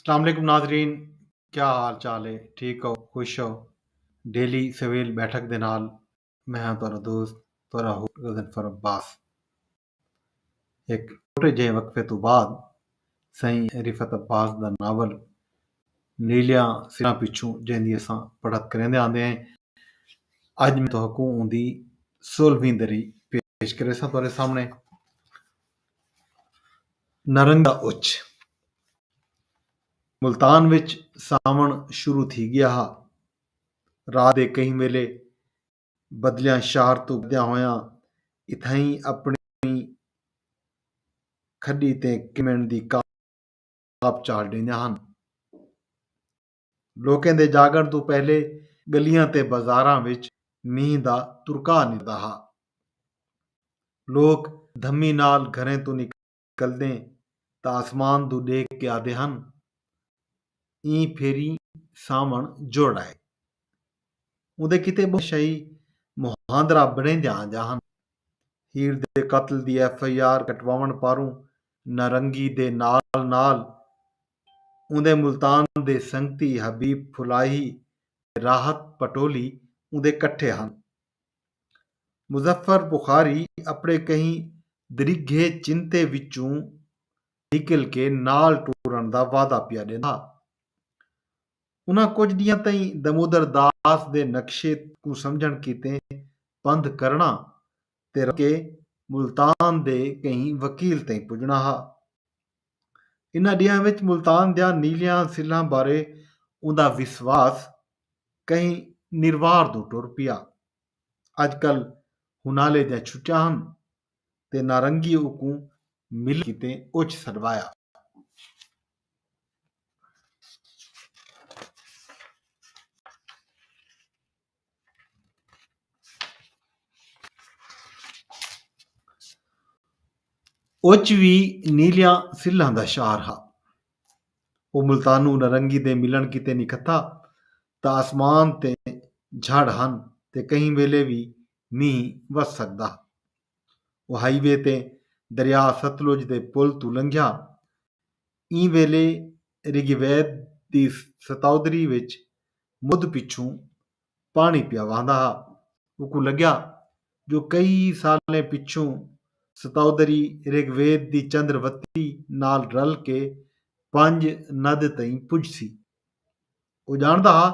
السلام علیکم ناظرین کیا حال چال ہے ٹھیک ہو خوش ہو ڈیلی سویل بیٹھک دے نال میں ہاں تہاڈا دوست تہاڈا ہو غضنفر عباس ایک چھوٹے جہے وقفے تو بعد سائیں رفعت عباس دا ناول نیلیاں سراں پچھوں جیندی اساں پڑھت کریندے آندے ہیں اج میں تہاکوں اوندی سولہویں دری پیش کریساں تہاڈے سامنے نرنگا اچ ملتان وچ ساون شروع تھی گیا ہا رات دے کہیں ویلے بدلیاں شہر توں گدیاں ہویاں اتھائیں اپنی کھڈی تے کمن دی کاپ چاڑھ ڈیندیاں ہن لوکیں دے جاگݨ توں پہلے ڳلیاں تے بازاراں وچ مینھ دا ترکا نکلدا ہا۔ لوک دھمی نال گھریں توں نکلدیں تاں آسمان دو ݙیکھ کے آہدے ہن ایں پھیری ساوݨ جڑ آئے۔ اوندے کیتے ٻہوں شاہی مہاندرا بݨیندیاں آندیاں ہن۔ ہیر دے قتل دی ایف آئی آر کٹواوݨ پاروں نارنگی دے نال نال اوندے ملتان دے سنگتی حبیب پھلاہی تے راحت پٹولی اوندے کٹھے ہن۔ مظفر بخاری اپݨے کہیں دریگھے چنتے وچوں نکل کے نال ٹرݨ دا وعدہ پیا ݙیندا۔ انہاں کجھ ݙینہاں تئیں دمودر داس دے نقشے کوں سمجھݨ کیتے پندھ کرݨا تے رل کے ملتان دے کہیں وکیل تئیں پڄݨا ہا۔ انہاں ݙینہاں وچ ملتان دیاں نیلیاں سلھاں بارے اوندا وسواس کہیں نروار دو ٹر پیا۔ اڄ کل ہنالے دیاں چھٹیاں ہن تے نارنگی اوکوں ملݨ کیتے اچ سݙوایا۔ اچ وی نیلیاں سلھاں دا شعار ہا۔ او ملتانو نرنگی دے ملݨ کیتے نکھتھا تاں آسمان تے جھڑ ہن تے کہیں ویلے وی مینہ وس سڳدا ہا۔ او ہائی وے تے دریا ستلج دے پل توں لنگھیا ایں ویلے رگ وید دی ستاودری وچ مدھ پچھوں پاݨی پیا وہندا ہا۔ اوکوں لڳیا جو کئی سالیں پچھوں ستاودری رگ وید دی چندر وتی نال رل کے پنج ند تئیں پڄسی۔ او ڄاݨدا ہا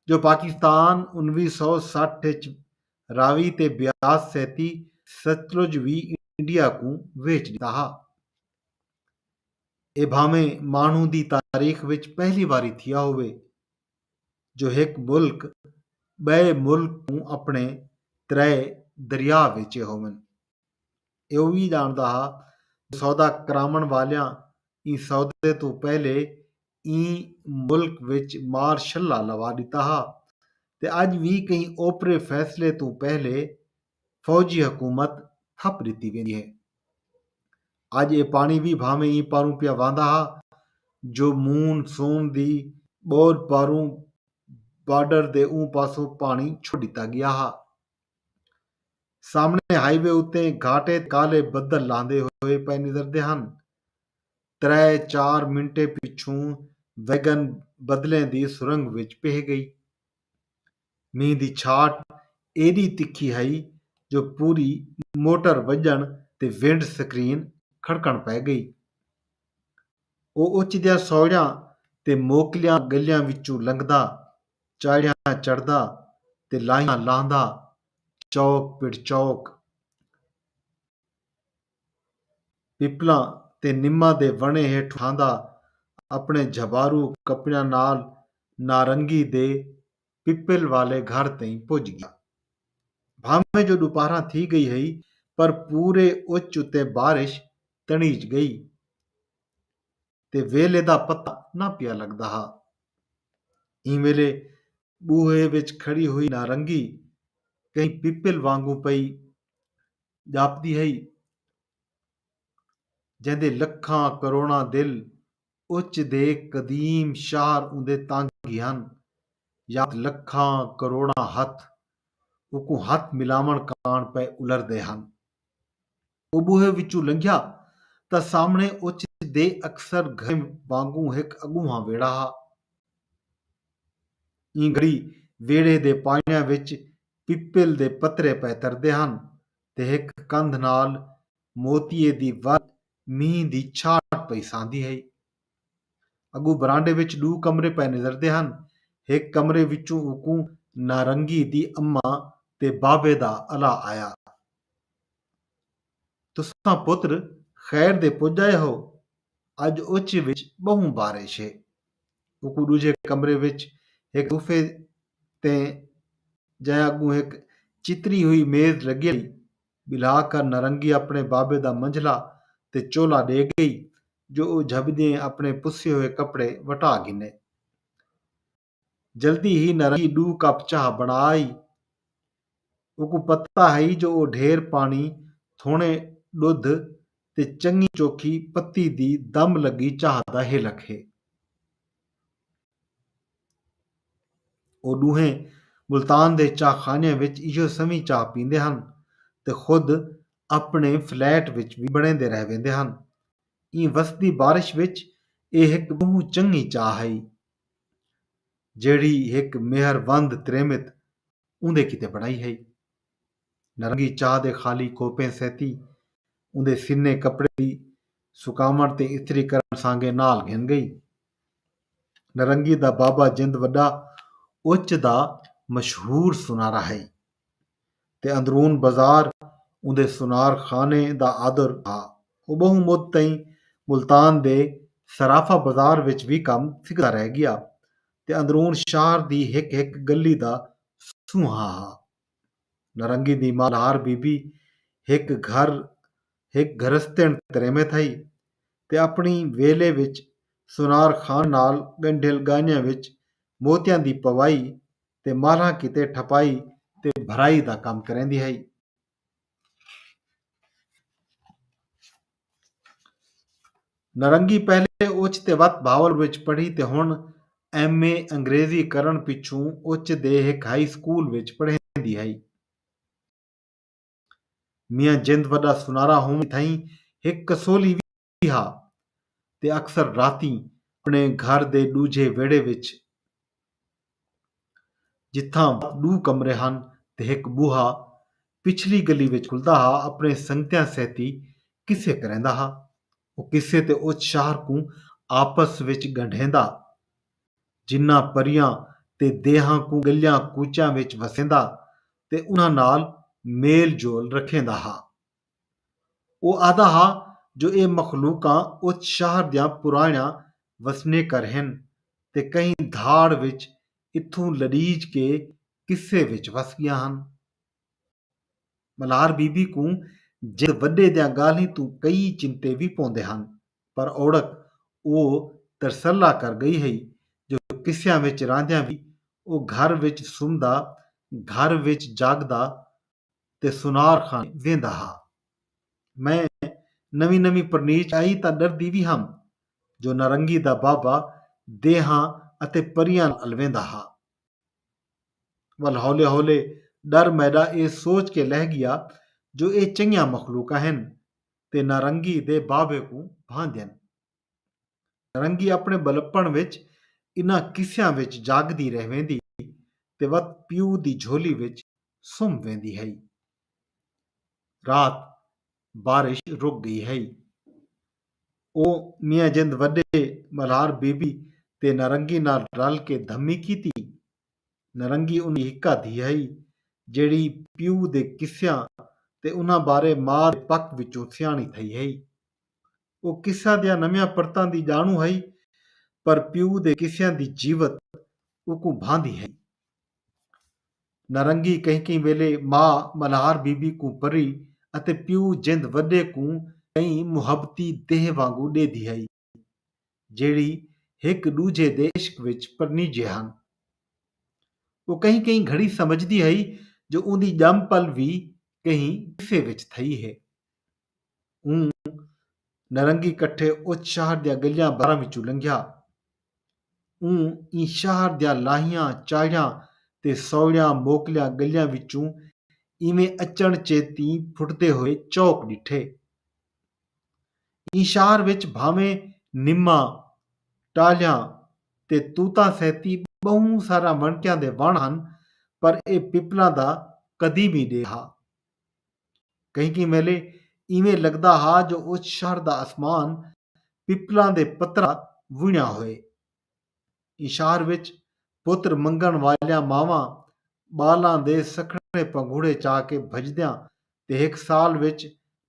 جو پاکستان انویہہ سو سٹھ اچ راوی تے بیاس سیتی ستلج وی انڈیا کوں ویچ ݙتا ہا۔ ایہ بھانویں ماݨو دی تاریخ وچ پہلی واری تھیا ہووے جو ہک ملک ٻئے ملک کوں اپݨے ترائے دریا ویچے ہوون۔ ایہ اووی ڄاݨدا ہا جو سودا کراوݨ والیاں ایں سودے توں پہلے ایں ملک وچ مار شلا لوا ݙتا ہا تے اڄ وی کہیں اوپرے فیصلے توں پہلے فوجی حکومت تھپ ڈتی ویندی ہے۔ اج اے پاݨی وی بھانویں ایں پاروں پیا وہندا ہا جو مون سون دی ٻوجھ پاروں بارڈر دے اوں پاسوں پاݨی چھوڑ ڈتا گیا ہا۔ سامݨے ہائی وے اتے گھاٹے تے کالے بدل لہندے ہوئے پئے نظردے ہن۔ ترے چار منٹیں پچھوں ویگن بدلیں دی سرنگ وچ پہہ گئی۔ مینھ دی چھاٹ ایݙی تکھی ہئی جو پوری موٹر وڄݨ تے ونڈ سکرین کھڑکݨ پئے ڳئی۔ او اچدیاں سوڑیاں تے موکلیاں ڳلیاں وچوں لنگھدا، چاڑھیاں چڑھدا تے لاہیاں لاہندا چوک پڑ چوک، پپلاں تے نماں دے وݨیں ہیٹھ اٹھاندا اپݨے جھبارو کپڑیاں نال نارنگی دے پپل والے گھر تئیں پڄ ڳیا۔ بھانویں جو ݙوپہراں تھی ڳئی ہئی پر پورے اچ اتے بارش تݨیج ڳئی تے ویلھے دا پتہ نہ پیا لڳدا ہا۔ ایں ویلھے ٻوہے وچ کھڑی ہوئی نارنگی کہیں پپل وانگوں پئی ڄاپدی ہئی جیندے لکھاں کروڑاں دل اچ دے قدیم شہر اوندے تانگھی ہن یات لکھاں کروڑاں ہتھ اوکوں ہتھ ملاوݨ کاݨ پئے الردے ہن۔ او ٻوہے وچوں لنگھیا تاں سامݨے اچ دے اکثر گھریں وانگوں ہک اڳونہاں ویڑھا ہا۔ ایں گھڑی ویڑھے دے پاݨیاں وچ پپل دے پترے پئے تردے ہن تے ہک کندھ نال موتیے دی ول مینہہ دی چھاٹ پئی ساندی ہئی۔ اڳوں برانڈے وچ ݙو کمرے پئے نظردے ہن، ہک کمرے وچوں اوکوں نارنگی دی اماں تے بابے دا الا آیا۔ تساں پتر خیر دے پڄ آئے ہو، اڄ اوچے وچ ٻہوں بارش ہے۔ اوکوں ݙوجھے کمرے وچ ہک صوفے تے جئیں اڳوں ہک چتری ہوئی میز لڳی ہئی، ٻلھا کر نارنگی اپݨے بابے دا منجھلا تے چولا ݙے ڳئی جو او جھٻدیں اپݨے پسے ہوئے کپڑے وٹا گھنے۔ جلدی ہی نرنگی ݙو کپ چاہ بݨا آئی۔ اوکوں پتہ ہئی جو او ڈھیر پاݨی، تھوݨے ݙدھ تے چنڳی چوکھی پتی دی دم لڳی چاہ دا ہلک ہے۔ او ݙوہیں ملتان دے چاہ خانیاں وچ ایہو سویں چاہ پیندے ہن تے خود اپݨے فلیٹ وچ وی بݨیندے رہ ویندے ہن۔ ایں وسدی بارش وچ اے ہک ٻہوں چنڳی چاہ ہئی۔ جیڑھی ہک مہر وند تریمت اوندے کیتے بݨائی ہئی۔ نارنگی چاہ دے خالی کوپیں سیتی اوندے سنیں کپڑے دی سکاوݨ تے استری کرݨ سانگے نال گھن ڳئی۔ نارنگی دا بابا جند وݙا اچ دا مشہور سنارا ہئی۔ تے اندرون بزار اوندے سنار خانے دا آدر ہا۔ او بہوں مد تئیں ملتان دے صرافہ بزار وچ وی کم سکھدا رہ گیا تے اندرون شہر دی ہک ہک گلی دا سونہا ہا۔ نارنگی دی مالہار بی بی ہک گھر ہک گھرستݨ تریمت ہئی تے اپݨی ویلے وچ سنار خان نال ڳنڈھیل ڳاہݨیاں وچ موتیاں دی پوائی تے مالھاں کیتے ٹھپائی تے بھرائی دا کم کریندی ہئی۔ نرنگی پہلے اچ تے وت بہاول وچ پڑھی تے ہݨ ایم اے انگریزی کرݨ پچھوں اچ دے ہک ہائی سکول وچ پڑھیندی ہئی۔ میاں جند وݙا سنارا ہووݨ تھئیں ہک کسولی وی ہا تے اکثر راتیں اپݨے گھر دے ݙوجھے ویڑھے وچ جتھاں ݙو کمرے ہن تے ہک ٻوہا پچھلی گلی وچ کھلدا ہا اپݨے سنگتیاں سیتی قصے کریندا ہا۔ او قصے تے اچ شہر کوں آپس وچ ڳنڈھیندا۔ جناں پریاں تے دیہاں کوں ڳلیاں کوچیاں وچ وسیندا تے انہاں نال میل جول رکھیندا ہا۔ او آہدا ہا جو اے مخلوقاں اس شہر دیاں پرانڑیاں وسنیکر ہن تے کہیں دھاڑ وچ اتھوں لڑیج کے قصے وچ وس گیاں ہن۔ ملہار بی بی کوں جند وڈے دیاں گالھیں توں کئی چنتے وی پوندے ہن پر اوڑک او ترسلا کر گئی ہئی جو قصیاں وچ راہندیاں وی او گھر وچ سمدا، گھر وچ جاگدا، تے سنار خان ویندا ہا۔ میں نویں نویں پرنیچ آئی تاں ݙردی وی ہم جو نارنگی دا بابا دیہاں اتے پریاں نال الویندا ہا۔ ول ہولے ہولے ݙر میݙا اے سوچ کے لہہ ڳیا جو اے چنگیاں مخلوقاں ہن تے نارنگی دے بابے کوں بھاندین۔ رنگی اپݨے ٻلپݨ وچ انہاں قصیاں وچ جاڳدی رہ ویندی تے وت پیو دی جھولی وچ سم ویندی ہئی۔ رات بارش رک ڳئی ہئی۔ او میاں جند وݙے ٻلہار بی بی تے نارنگی نال رل کے دھمی کیتی۔ نارنگی انہاں دی ہکا دھی ہئی جیڑھی پیو دے قصیاں تے انہاں بارے ماء دے پک وچوں سیاݨی تھئی ہئی۔ او قصہ دیاں نویاں پرتاں دی ڄاݨوں ہئی پر پیو دے قصیاں دی جیوت اوکوں بھاندی ہئی۔ نارنگی کہیں کہیں ویلے ماء ملہار بی بی کوں پری اتے پیو جند وݙے کوں کئی محبتی دیہہ وانگوں ݙیدی ہئی جیڑھی ہک ݙوجھے دے عشق وچ پرنیجے ہن۔ او کہیں کہیں گھڑی سمجھدی ہئی جو اوندی ڄم پل وی کہیں قصے وچ تھئی ہے۔ اوں نرنگی کٹھے اچ شہر دیاں گلیاں بازاراں وچوں لنگھیا۔ اوں ایں شہر دیاں لاہیاں چاہڑیاں تے سوڑیاں موکلیاں گلیاں وچوں ایویں اچݨ چیتیں پھٹدے ہوئے چوک ݙٹھے۔ ایں شہر وچ بھانویں نماں، ٹالھیاں تے توتاں سیتی ٻہوں ساراں وݨکیاں دے وݨ ہن پر ایہ پپلاں دا قدیمی ݙیہہ ہا۔ کہیں کہیں ویلے ایویں لگدا ہا جو اس شہر دا اسمان پپلاں دے پتراں وݨیا ہوئے۔ ایں شہر وچ پتر منگݨ والیاں ماواں ٻالاں دے سکھڑے پنگھوڑے چا کے بھڄدیاں تے ہک سال وچ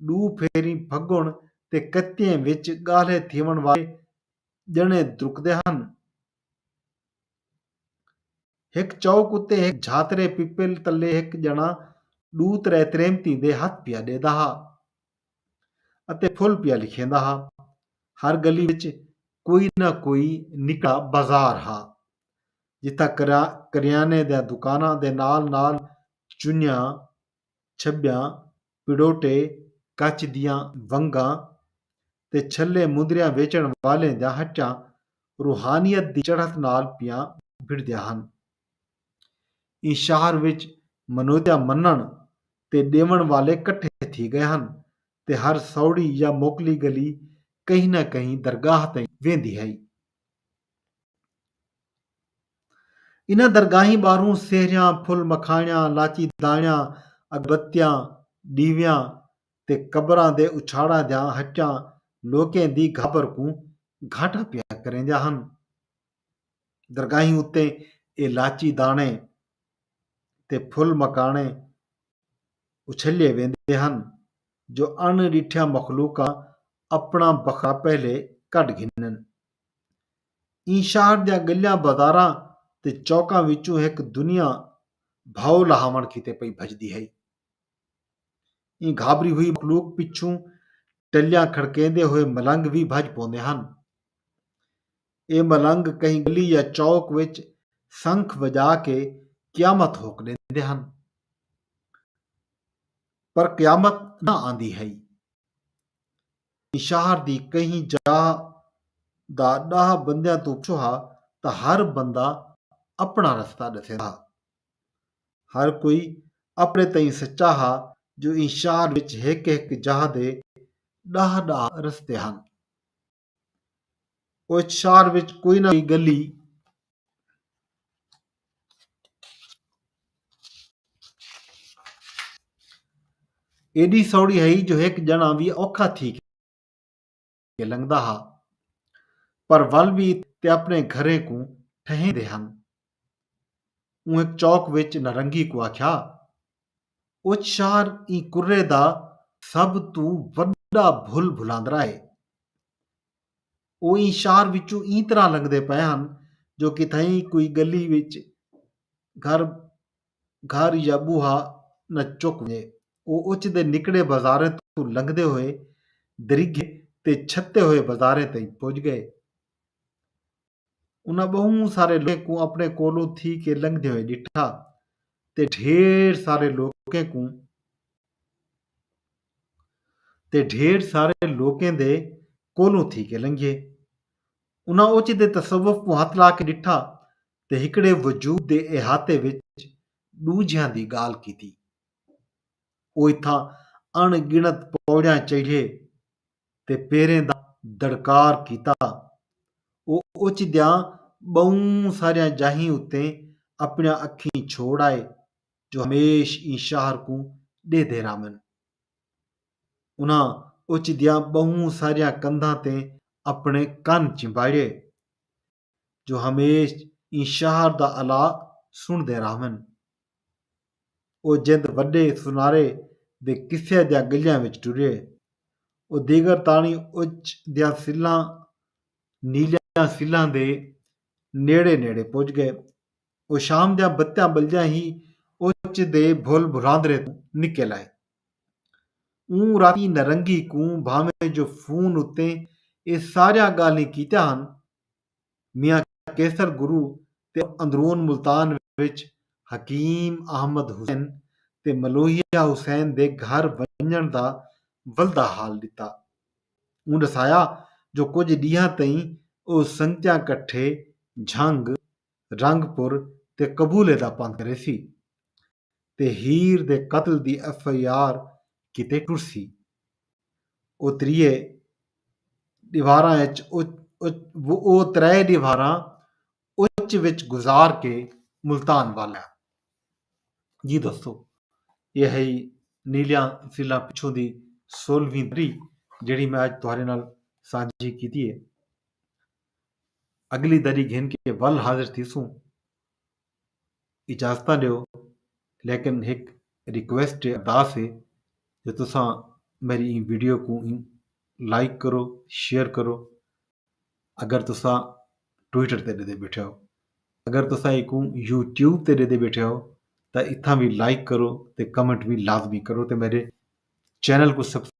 ݙو پھیریں پھڳݨ تے کتیں وچ ڳالھے تھیوݨ والے ڄݨے درکدے ہن۔ ہک چوک اتے ہک جھاترے پپل تلے ہک ڄݨا ݙو ترے تریمتیں دے ہتھ پیا ݙیدا ہا اتے پھل پیا لکھیندا ہا۔ ہر ڳلی وچ کوئی نہ کوئی نکا بازار ہا جتھاں کریانے دیاں دکاناں دے نال نال چنیاں چھٻیاں پڑوٹے، کچ دیاں ونگاں تے چھلے مندریاں ویچݨ والیں دیاں ہٹیاں روحانیت دی چڑھت نال پیاں بھڑدیاں ہن۔ ایں شہر وچ منودیاں منݨ تے ݙیوݨ والے کٹھے تھی ڳئے ہن تے ہر سوڑی یا موکلی ڳلی کہیں نہ کہیں درگاہ تئیں ویندی ہئی۔ انہاں درگاہیں ٻاہروں سہریاں، پھل مکھاݨیاں، لاچی داݨیاں، اگربتیاں، ݙیویاں تے قبراں دے اچھاڑاں دیاں ہٹیاں لوکیں دی گھابر کوں گھاٹا پیا کریندیاں ہن۔ درگاہیں اتے اے لاچی داݨے تے پھل مکھاݨے اچھلیے ویندے ہن جو اݨ ݙٹھیاں مخلوقاں اپݨاں بخرا پہلے کڈھ گھنن۔ ایں شہر دیاں ڳلیاں بازاراں تے چوکاں وچوں ہک دنیا بھاؤ لہاوݨ کیتے پئی بھڄدی ہئی۔ ایں گھابری ہوئی مخلوق پچھوں ٹلیاں کھڑکیندے ہوئے ملنگ وی بھڄ پوندے ہن۔ اے ملنگ کہیں ڳلی یا چوک وچ سنکھ وڄا کے قیامت ہوک ݙیندے ہن۔ پر قیامت نہ آندی ہئی۔ ایں شہر دی کہیں جاہ دا ݙاہ بندیاں توں پچھو ہا تاں ہر بندہ اپݨا رستہ ݙسیندا ہا۔ ہر کوئی اپݨے تئیں سچا ہا جو ایں شہر وچ ہک ہک جاہ دے ݙاہ ݙاہ رستے ہن۔ اوہ شہر وچ کوئی نہ کوئی ڳلی، ایݙی سوڑی ہئی جو ہک ڄݨاں وی اوکھا تھی کے لنگھدا ہا پر ول وی تے اپݨے گھریں کوں ٹھہیندے ہن۔ اوں ہک چوک وچ نارنگی کوں آکھیا، اچ شہر ایں کرے دا سب توں وݙا بھل بھلاندرا ہے۔ او ایں شعر وچوں ایں طرح لنگھدے پئے ہن جو کتھائیں کوئی ڳلی وچ گھر گھر یا ٻوہا نہ چک ونڄے۔ او اچ دے نکڑے بازاریں توں لنگھدے ہوئے دریگھے تے چھتے ہوئے بازاریں تئیں پڄ ڳئے۔ انہاں ٻہوں سارے لوکیں کوں اپݨے کولوں تھی کے لنگھدے ہوئے ݙٹھا تے ڈھیر سارے لوکیں کوں تے ڈھیر سارے لوکیں دے کولوں تھی کے لنگھیے۔ انہاں اوچ دے تصوف کوں ہتھ لا کے ݙٹھا تے ہکڑے وجود دے احاطے وچ ݙوجھیاں دی ڳالھ کیتی۔ او اتھاں اݨ ڳݨت پوڑیاں چڑھے تے پیریں دا دڑکار کیتا۔ او اچ دیاں ٻہوں ساریاں جاہیں اتے اپݨیاں اکھیں چھوڑ آئے جو ہمیش ایں شہر کوں ݙیہدے رہون۔ انہاں اچ دیاں ٻہوں ساریاں کندھاں تے اپݨے کن چمباڑئے۔ جو ہمیش ایں شہر دا الا سݨدے رہون۔ او جند وݙے سنارے دے قصے دیاں ڳلیاں وچ ٹرے۔ او دیگر تاݨی اچ دیاں سلھاں، نیلیاں سلھاں دے نیڑے نیڑے پڄ ڳئے۔ او شام دیاں بتیاں ٻلدیاں ہی اچ دے بھل بھلاندرے توں نکل آئے۔ اوں راتی نرنگی کوں بھانویں جو فون اتے اے ساریاں ڳالھیں کیتیاں ہن، میاں قیصر گرو تے اندرون ملتان وچ حکیم احمد حسین تے ملوہیا حسین دے گھر ونڄݨ دا ولدا حال ݙتا۔ اوں ݙسایا جو کجھ ݙینہاں تئیں او سنگتیاں کٹھے جھنگ، رنگ پور تے قبولے دا پندھ کریسی تے ہیر دے قتل دی ایف آئی آر کیتے ٹرسی۔ او تریہے ݙیواراں اچ او ترائے ݙیواراں اچ وچ گزار کے ملتان ول آ۔ جی دوستو ایہ ہئی نیلیاں سلھاں پچھوں دی سولہویں دری جیڑھی میں اج تہاݙے نال سانجھی کیتی ہے۔ اڳلی دری گھن کے ول حاضر تھیسوں اجازتاں ݙیو لیکن ہک ریکویسٹ ہے ارداس ہے جو تساں میری این ویڈیو کو این لائک کرو شیئر کرو اگر تساں ٹویٹر تے ݙیندے بیٹھے ہو اگر تساں ایکوں یوٹیوب تے ݙیندے بیٹھے ہو تاں اتھاں بھی لائک کرو تے کمنٹ بھی لازمی کرو تے میرے چینل کو سبسکرائب